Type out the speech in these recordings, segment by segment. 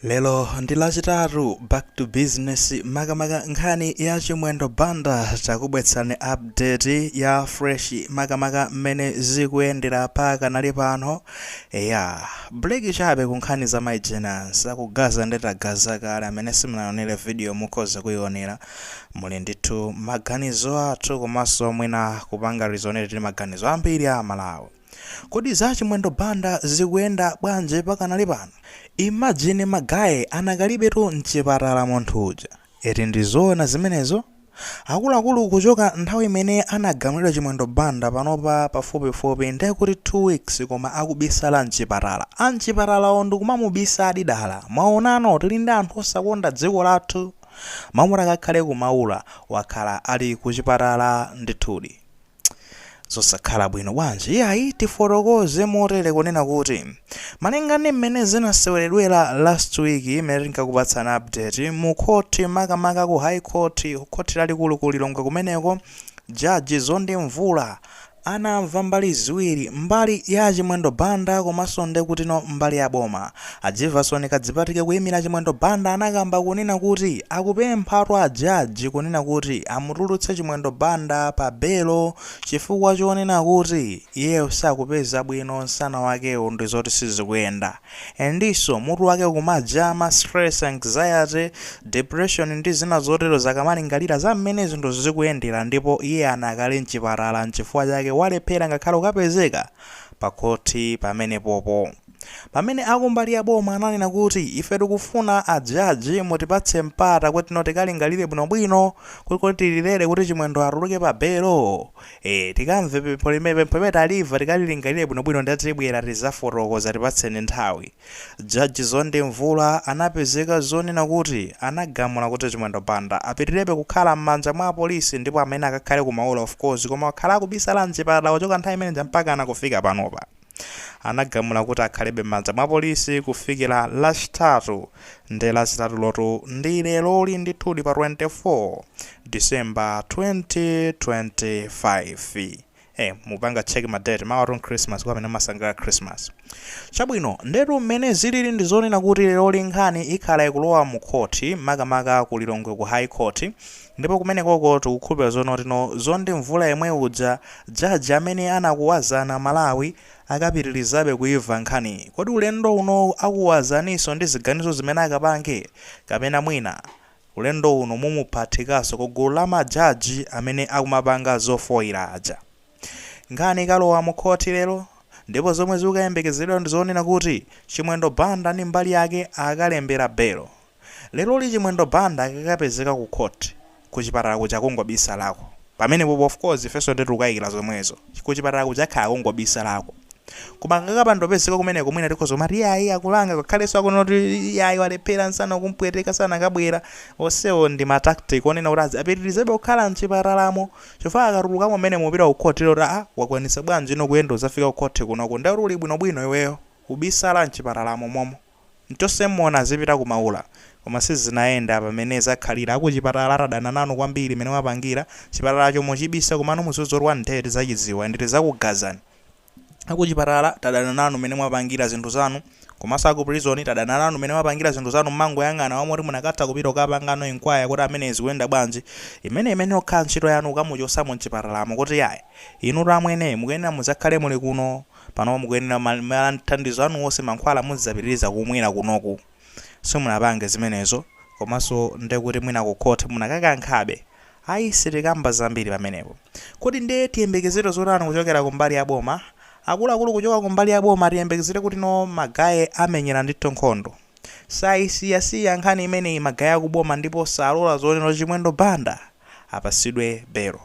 Lero ndi lachitatu back to business makamaka nkhani ya Chimwendo Banda takubwetsani update ya fresh makamaka mmene zikuyendera pa kanali pano ya break chabe ku nkhani za my engines akugaza ndetagaza kale amene simunaonere video mukhoza kuionera muli ndithudi maganizo athu komanso mwina kupanga resonate ndi maganizo ambiri a Malawi Kodi za Chimwendo Banda zikuyenda bwanji pakanali pano? Imagine ma guys anakalibetu nchipatala munthu uja eti ndi zoona zimenezo? Akuluakulu kuchoka nthawi imene anagamulidwa Chimwendo Banda panopa pafupifupi nde kuti 2 weeks koma akubisala nchipatala anchipatalawo ndikumamubisadi dala mwaonano tili ndi anthu osakonda dziko lathu? Mmene akakhale ku Maula wakhala ali kuchipatala ndithudi. Zosakhala bwino bwanji iyayi tifotokoze motere kunena kuti malinga ndi mmene zinaseweredwera last week imene tinkakupatsana update mu khoti makamaka ku high court khoti lalikulu ku Lilongwe kumeneko judge Zondi Mvula anamva mbali ziwiri mbali ya Chimwendo Banda komanso ndekutino mbali ya boma A Jivason Kadzipatike kuyimira Chimwendo Banda anakamba kunena kuti akupemphatu a judge kunena kuti amutulutse Chimwendo Banda pa belo chifukwa chonena kuti iyeyo sakupeza bwino nsana wakewo ndizoti sizikuyenda and'nso mutu wake ukumajama, stress, anxiety, depression ndi zina zotero akamalingalira za mmene zinthu zikuyendera ndipo iye anakali mchipatala mchifukwa chake walephera ngakhale kukapezeka pa khothi pamenepopo. Pamene akumbali ya boma ananena kuti ife tikufuna a judge mutipatse mpata kutno tikalingalire bwino bwino kuti kodi tilolere kuti Chimwendo atuluke pa belo ee tikamve pempho limene pempho limene taliva tikalilingalire bwino bwino nde tibwera tizafotokoza tipatseni nthawi Judge Zondi Mvula anapezeka zonena kuti anagamula kuti Chimwendo Banda apitilirebe kukhala mmanja mwa apolisi ndipo amene akakhale ku Maula of course koma wakhala akubisala mchipatala kuchoka nthawi imeneja mpakana kufika panopa. anagamula kuti akhalebe m'manja mwa polisi kufikira Lachitatu nde Lachitatulotu ndi leroli ndithudi pa 24 December 2025. Eh, mupanga check ma date mawatu ndi Christmas kwa amene amasangalala Christmas. Chabwino, ndetu mmene zilili ndi zonena kuti leroli nkhani ikhala ikulowa mu khoti makamaka ku Lilongwe ku High Court Ndipo kumenekoko tikukhulupilira zonoti no Mzonde Mvula yemwe uja judge amene anakuwazana Malawi akapitilizabe kuimva nkhani kodi ulendo uno akuwazaniso ndi ziganizo zimene akapange kapena mwina ulendo uno mumuphathikaso ku gulu la ma judge amene akumapanga zofoira aja nkhani ikalowa mu khothi lelo ndipo zomwe zikukayembekezedwa ndizonena kuti chimwendo Banda ndi mbali yake akalembera belo Leroli Chimwendo Banda akakapezeka ku court, ku chipatala kuja akungobisalako. Pamenepopo of course ifenso nde tikukaikira zomwezo. Ku chipatala kuja akhala akungobisalako. Koma akakapanda kupezeka kumeneko mwina tikhoza kumati iyayi akulanga ngakhalenso akunena kuti iyayi walephera nsana ukumpweteka sanakabwera. Onsewo ndi ma tactic onena kuti azi, apitirizebe kukhala mchipatalamo chifukwa akatulukamo mmenemo kupita ku court ati aah wakwanitsa bwanji ino kuyenda kudzafika ku court kunoko nde kuti uli bwinobwino iweyo. Ubisala mchipatalamo momo. Mchotseni mmona azipita ku maula. Koma sizinayenda pamene zakhalira akuchipatala tadana nanu kwambiri mene mwapangira. Chipatalacho mwachibisa komano muzizurwa ndee tizachidziwa and tizakugazani. Akuchipatala tadana nanu mene mwapangira zinthu zanu. Komaso aku prison tadana nanu mene mwapangira zinthu zanu mmangoyang'ana koma moti munakatha kupita kukapangano inquire kuti ameneyi zikuyenda bwanji. Imeneyi imene ikhala ntchito yanu kukamuchosamo mchipatalamo kuti yayi inutu amwene mukuyenera muzakhale muli kuno. Pano mukuyenera ma, ma thandizo anu onse mankhwala muzidzapitiliza kumwera kunoku. Simunapange zimenezo. Komanso ndekuti mwina ku court munakakankhabe. Ayi sitikamba zambiri pamenepo. Kodi nde tiyembekezere zotani kuchokera ku mbali ya boma? Akuluakulu kuchoka ku mbali ya boma tiyembekezere kuti no ma guy amenyera ndithu nkhondo. Sayisiyasiya nkhani imeneyi ma guy aku boma ndipo salora zonoti Chimwendo Banda apasidwe belo.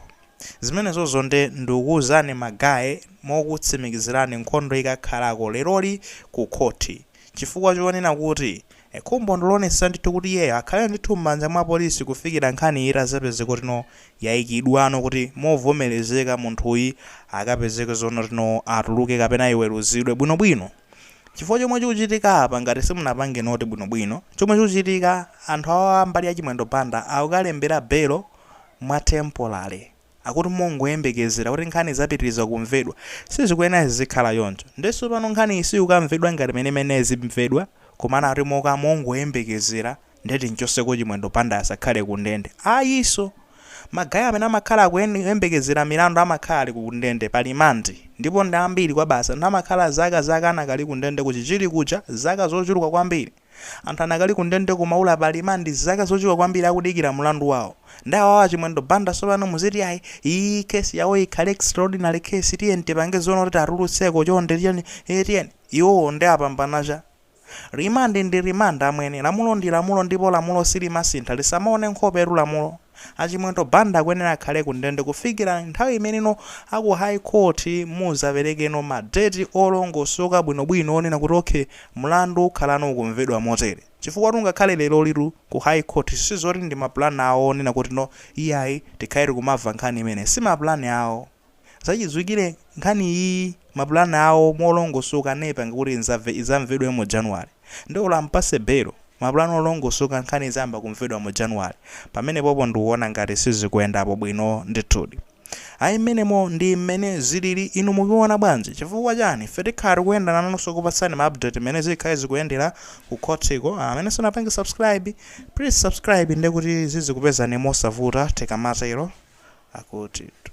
Zimenezozo nde ndukuuzani ma guy mokutsimikizirani nkhondo ikakhalako leroli ku khoti chifukwa chonena kuti khumbo ndiloonetsetsa ndithu kuti iyeyo akhale ndithu mmanja mwa polisi kufikira nkhaniyi itazapezeka kuti no yaikidwano kuti movomerezeka munthuyi akapezeke zonoti no atuluke kapena iweruzidwe bwinobwino chifukwa chomwe chikuchitika apa ngati simunapange note bwinobwino chomwe chikuchitika anthu awa mbali ya Chimwendo Banda akukalembera belo mwa temporary akuti mongoyembekezera kuti nkhani izapitiliza kumvedwa sizikuyenera zizikhala choncho nde sopano nkhaniyi siyukamvedwa ngati mene imayenera izimvedwa komano akuti moka mongoyembekezera nde timchoseko chimwendo banda asakhale ku ndende ayiso ma guy amene amakhala akuyembekezera milandu amakhala ali ku ndende pa remand ndipo ndi ambiri kwabasi anthu amakhala zaka zaka anakali ku ndende ku chichiri kuja zaka zochuluka kwambiri Anthu anakali ku ndende ku Maula pa remand zaka zochuluka kwambiri akudikira mulandu wawo. Nde awawa Chimwendo Banda sopano muziti ayi iyii case yawo ikhale extraordinary case tiyeni tipange zonoti atulutseko chonde tiyeni ee tiyeni. Iwowo nde apambana cha? Remand ndi remand amwene. Lamulo ndi lamulo ndipo lamulo silimasintha. Lisamaone nkhopetu lamulo. A Chimwendo Banda akwenera akhale ku ndende kufikira nthawi imeneno a ku High Court muzaperekeno ma date olongosoka bwinobwino onena kuti ok mlandu ukhalano ukumvedwa motere. Chifukwatu ngakhale lerolitu ku High Court sizoti ndi ma plan awo onena kuti no iyayi tikhale tikumamva nkhani imeneyi. Si ma plan awo. Zachidziwikire nkhani iyiyi mapulani awo molongosoka anaipanga kuti idzamvedwe mu January. Nde olo ampase belo, mapulani olongosoka nkhani idzayamba kumvedwa mu January. Pamenepopo ndikuona ngati sizikuendapo bwino ndithudi. Ayi mmenemo ndi mmene zilili inu mukuona bwanji? Chifukwa chani? Ife tikhala tikuenda nanunso kukupatsani ma update mmene zikhale zikuendela ku khotiko. Amene simunapange subscribe, please subscribe ndekuti zizikupezani mosavuta tikamatelo. Akutitu.